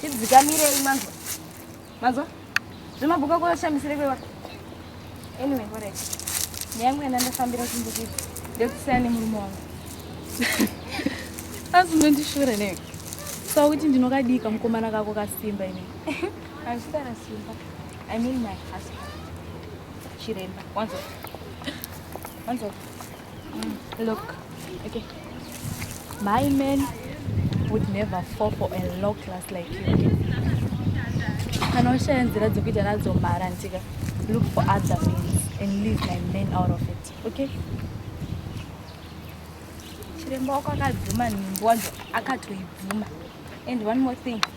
tidzikamirei manzwa manzwa zvemabhuku ako ashamisire kwewa anyway korek neyangu yenda ndafambira kumbukiti ndekusiyana nemurume wangu asi mendishure ne saka kuti ndinokadii kamukomana kako kasimba ine hazvisana simba i mean my husband chiremba wanzwa wanzwa Mm, look. Okay. My man would never fall for a low class like you. Okay? Anoshaya nzira dzekuita nadzo mara ntika. Look for other means and leave my man out of it. Okay? Chiremba wako akadzima nhimbo wacho akatoibvuma. And one more thing.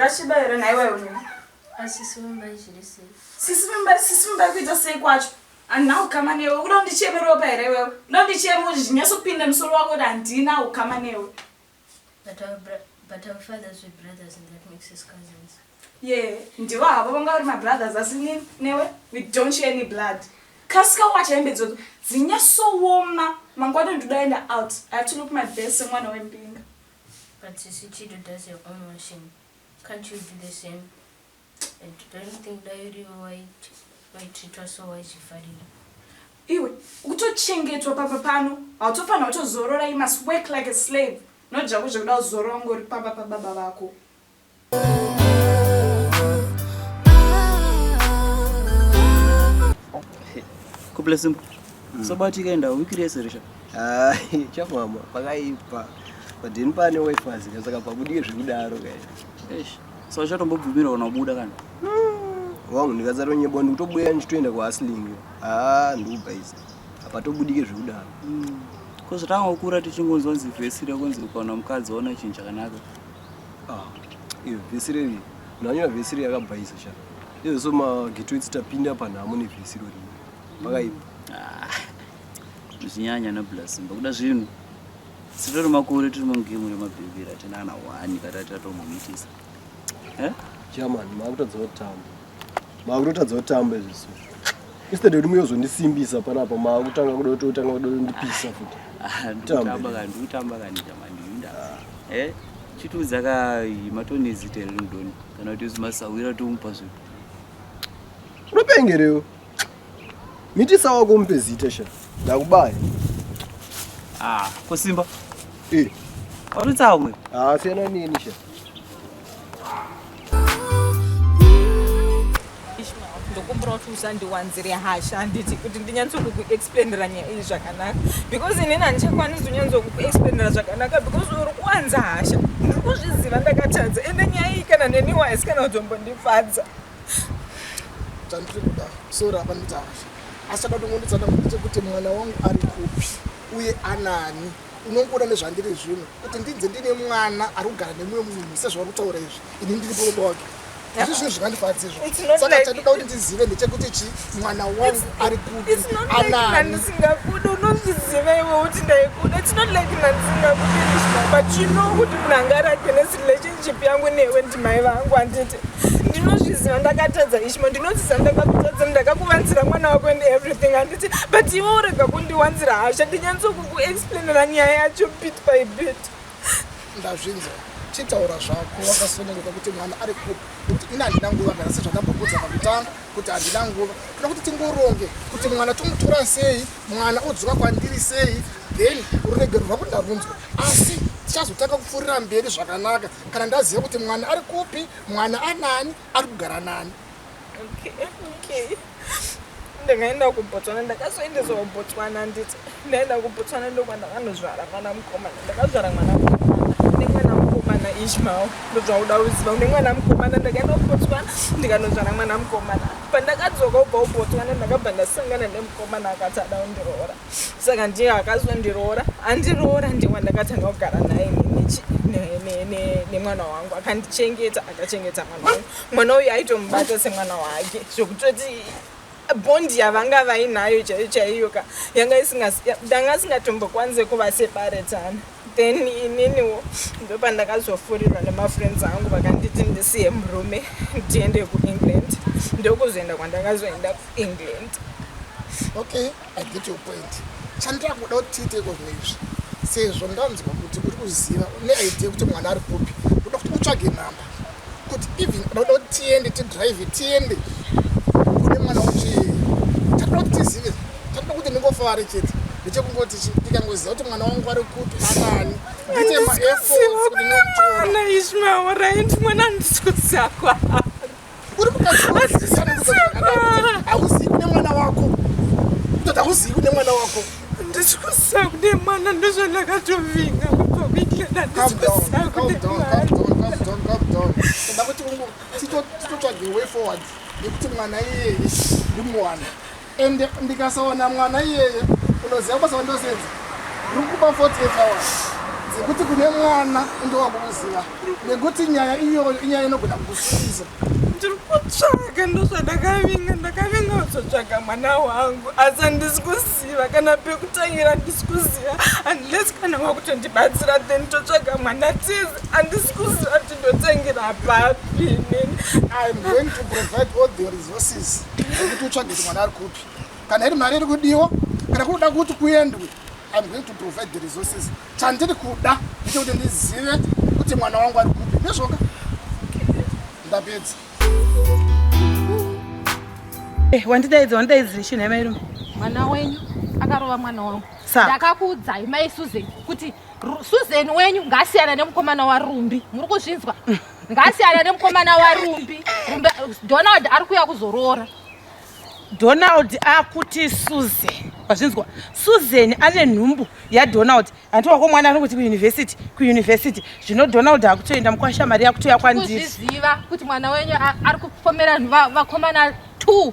zvakasviba here nhaiwa iwe asisi vimba izviri sei sisi vimba sisi vimba kuita sei kwacho handina ukama newe ukuda undicheme ropa here iwewe uda undicheme kuti zvinyasopinda musoro wako kuti handina ukama newe But our bra but our fathers were brothers and that makes us cousins. Yeah, ndivo havo vanga vari mabrothers asi ni- newe we don't share any blood. Kasika wacha hembe idzodzo dzinyasowoma mangwana ndoda enda out. I have to look my best semwana wembinga. But Sisi Chido does her own washing. Can't you do the same? iwe kutochengetwa papa pano hautofanira kutozorora you must work like a slave not zvako zvekuda kuzorora ungori pamba pababa vako kublessimbo mm. sobatika enda wiki rese risha chamama pakaipa but ini pane wife azika saka pakudie zvekudaro kaii so uchatombobvumira unobuda kana wangu ndikazaronyebwa ndikutobuya ndichitoenda kuhasling haa ah, ndikuba izi apa tobudike zvekudaro hmm. ko zvatanga kukura tichingonzwa nzi vhesi rekunzi ukaona mukadzi waona chinhu chakanaka ah, iyo vhesi reri nanyora vhesi reri yakabva izi cha izvo so mageto etsi tapinda panhamo nevhesi rori pakaipa ah, zvinyanya nablas mbakuda zvinhu Sitoro makore tiri mugemu remabhimbira tinana wani katati tatomumitisa. Eh? Chairman, makutadzawo tambo. Makutadzawo tambo izvi so. Instead yekuti muyozondisimbisa panapa makutanga kuda kuti utanga kuda kundipisa futi. Ah, ndikutamba kani, ndikutamba kani chairman ndinda. Eh? Chitiudza ka matoni zita rinodoni kana kuti zimasawira tomupa zvipi. Unopengerewo. Mitisa wako umupe zita sha. Ndakubaya. Ah, ko Simba. Eh. Uri tsamwe. Ah, siyana nini sha. ndokumbira kuti usandiwanzire hasha handiti kuti ndinyatsokukuexplainira nyaya iyi zvakanaka because inini handichakwanisi kunyatsokukuexplainira zvakanaka because uri kuwanza hasha ndiri kuzviziva ndakatadza ende nyaya iyi kana neniwise kana kutombondifadza chandiri kuda sora apa nditaashi asi chada kutongonditsana kuti chekuti mwana wangu ari kupi uye anani unongoda nezvandiri zvino kuti ndinze ndine mwana ari kugara nemumwe munhu sezvauri kutaura izvi ini ndiri pokuba wake izvi zvinhu zvingandifadzi izvo saka chandida kuti ndizive ndechekuti chi mwana wangu ari kupi anani unozviziva iwe kuti ndaikuda it's not like mandisingakuti kuti munhu angarake nesi relationship yangu newe ndimai vangu anditi ndinozviziva ndakatadza ishma ndinoziziva ndakakutadza ndakakuvanzira mwana wako and everything anditi but iwe urega kundiwanzira hasha ndinyanyisa kukuexplainera nyaya yacho bit by bit ndazvinzwa chitaura zvako wakasonereka kuti mwana ari kupi kuti ini handina nguva kana sezvandambokudza pakutanga kuti handina nguva toda kuti tingoronge kuti mwana tomutora sei mwana odzoka kwandiri sei then ruregerwo rwako ndarunzwa asi tichazotanga kupfuurira mberi zvakanaka kana ndaziva kuti mwana ari kupi mwana anani ari kugara nani ndakaenda kubotswana ndakazoendeswa kubotswana nditi ndaenda kubotswana ndokwa ndakanozvara mwana mukomana ndakazvara mwana nemwana mukomana ishmael ndozvauda kuziva une mwana mukomana ndakaenda kubotswana ndikanozvara mwana mukomana pandakadzoka ubva kubotswana ndakabva ndasangana nemukomana akati ada kundiroora saka ndiye akazondiroora andiroora ndiye wandakatanga kugara naye nemwana wangu akandichengeta akachengeta mwana wangu mwana uyu aitomubata semwana wake zvokutoti bondi yavanga vainayo chaiyo chaiyo ka yanga danga isingatombokwanise kuva sebaretana then ininiwo ndopandakazofurirwa nemafriends angu vakanditi ndisiye murume ndiende kuengland ndokuzoenda kwandakazoenda kuengland okay I get your point. Chandira kuda kuti tiite iko zvino izvi. Sezvo ndanzwa kuti uri kuziva une idea kuti mwana ari kupi. Unoda kuti utsvage number. Kuti even unoda kuti tiende ti drive tiende. Kune mwana uchi. Tatoda kuti tizive. Tatoda kuti ndingofare chete. Ndichekungoti ndikangoziva kuti mwana wangu ari kupi anani. Ndite ma efforts kuti ndinokutora. Ana Ishmael right mwana ndisikuziva kwa. uri mukadzi hauzivi kune mwana wako kutoda hauzivi kune mwana wako ndisi kuziva kune mwana ndozvandakatovinga kubva kuikena ndisi kuziva kune mwana titotsvage way forward yekuti mwana iyeye ndimuwana and ndikasaona mwana iyeye unoziva basa vandosenza rikuba 48 hours dzekuti kune mwana unge wakukuziva nekuti nyaya iyoyo inyaya inogona kukusuiza ndiri kutsvaga ndozvandakavinga ndakavinga kuzotsvaga mwana wangu asi handisi kuziva kana pekutangira handisi kuziva unless kana wakutondibatsira then totsvaga mwana tizi handisi kuziva kuti ndotangira papi nini i'm going to provide all the resources kuti utsvage kuti mwana ari kupi kana iri mari iri kudiwa kana kunoda kuti kuendwe I'm going to provide the resources chandiri kuda ndicho kuti ndizive kuti mwana wangu ari kupi ndezvoka ndapedza eh, wandidaidza wandidaidzire chinhu yamairume mwana wenyu akarova mwana wangu ndakakuudzai mai susan kuti susan wenyu ngaasiyana nemukomana warumbi muri kuzvinzwa mm. Ngasiyana nemukomana waRumbi. Rumbi Donald ari kuya kuzoroora. Donald akuti Susan. Wazvinzwa? Susan ane nhumbu yaDonald. Hanti wako mwana anongoti kuuniversity, kuuniversity. Zvino Donald akutoenda mukwasha mari yakutoya kwandiri. Kuzviziva kuti mwana wenyu ari kupomera vakomana 2.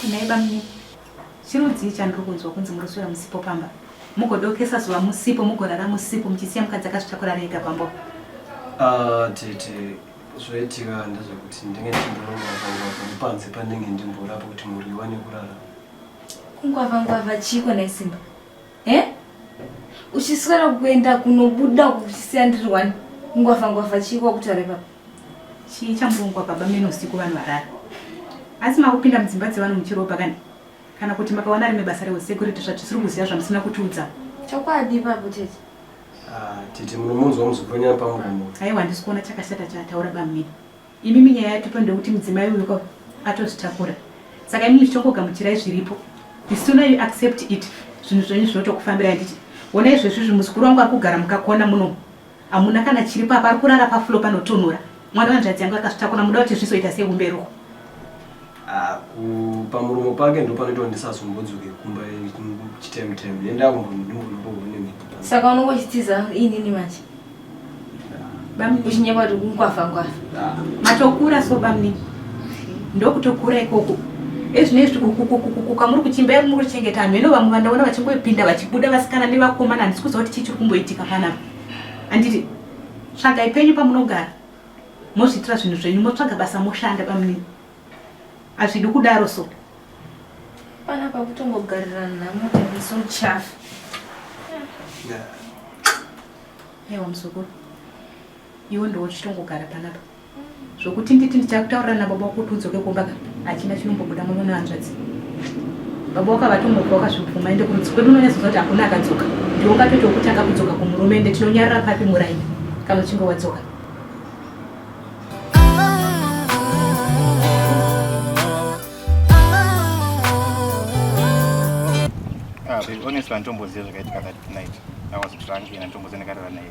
Kunai bamnini. Chirudzii chandiri kunzwa kunzi muroswera musipo pamba. Mugodokesa zuva musipo mugorara musipo muchisiya mukadzi akazvitakura rega pambo. Ah, tete zvoitika ndezvekuti ndinge ndichimborongwavangwavha nepanze pandinge ndimborapa kuti mhuri iwane kurara kungwavangwavha chiiko naisimba e eh? uchiswera kuenda kunobuda kuchisiya ndiri wani kungwavangwavha chiiko kutaura ipapa Chii chamurongwa baba meno usiku vanhu varara? Asi makupinda mudzimba dzevanhu muchiropa kani? Kana kuti makawana rimwe basa rehusecurity zvatisiri kuziva zvamusina kutiudza? Chokwadi ipapo tete. Ah, tete munomunzwa muzoponyana pamuromo. Aiwa handisi kuona chakashata chaataura bamini. Imi minyaya yatupa ndekuti mudzimai uyu ko atozvitakura. Saka imi muchitongogamuchirai zviripo. The sooner you accept it, zvinhu zvenyu zvinotokufambirai nditi. Wona izvezvi izvi muzukuru wangu akugara mukakona muno. Hamuna kana chiri papa ari kurara paflo panotonhora. Mwana wanzvadzi yangu akazvitakura muda kuti zvizoita sei kumberuko. Ah, kupa muromo pake ndo panoitwa ndisazombodzoke kumba chitime time nenda kumbondimbonorohone mhepo. Saka unongochitiza inini manje. Bami kuchinyekwa kuti kungwafa ngwafa. Matokura so bamni. Ndokutokura ikoko. Ezvino izvi kukukukukuka muri kuchimba yari muri kuchengeta vanhu ino vamwe vandaona vachingopinda vachibuda vasikana nevakomana handisi kuziva kuti chii chiri kumboitika panapa handiti tsvagai penyu pamunogara mozviitira zvinhu zvenyu motsvaga basa moshanda bamni hazvidi kudaro so pana pakutongogarira nhamo taiso chafu ewa muzukuru Iwe ndiwe uchitongogara panapa zvokuti nditi ndichakutaurira nababa wako kuti udzoke kumba ka hachina chinombobuda muno nehanzvadzi baba wako avatomuka wakazvibvuma ende kurudzi kwedu unonyatsoziva kuti hakuna akadzoka ndiwe ungatoita wokutanga kudzoka kumurume ende tinonyarira papi muraini kana uchinge wadzoka Ah, babe, honestly, anditomboziva zvakaitika that night. I was drunk and anditomboziva ndakarara naye.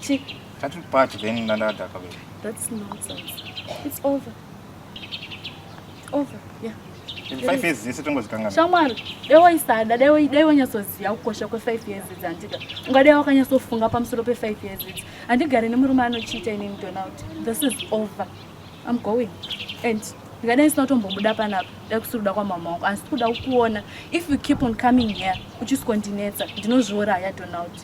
Chick. That will part then another Dakabel. That's nonsense. It's over. It's over. Yeah. Five years yese tongozikangana. Shamwari, dai waisada, dai dai wanyatsoziva kukosha kwe five years idzi handika. Ungadai wakanyatsofunga pamusoro pe five years idzi. Handigare nemurume anochiita ini Donald. This is over. I'm going. And ndikadai ndisina kutombobuda panapa dai kusiri kuda kwamama wangu asi kuda kukuona if you keep on coming here uchisiko ndinetsa ndinozviuraya donald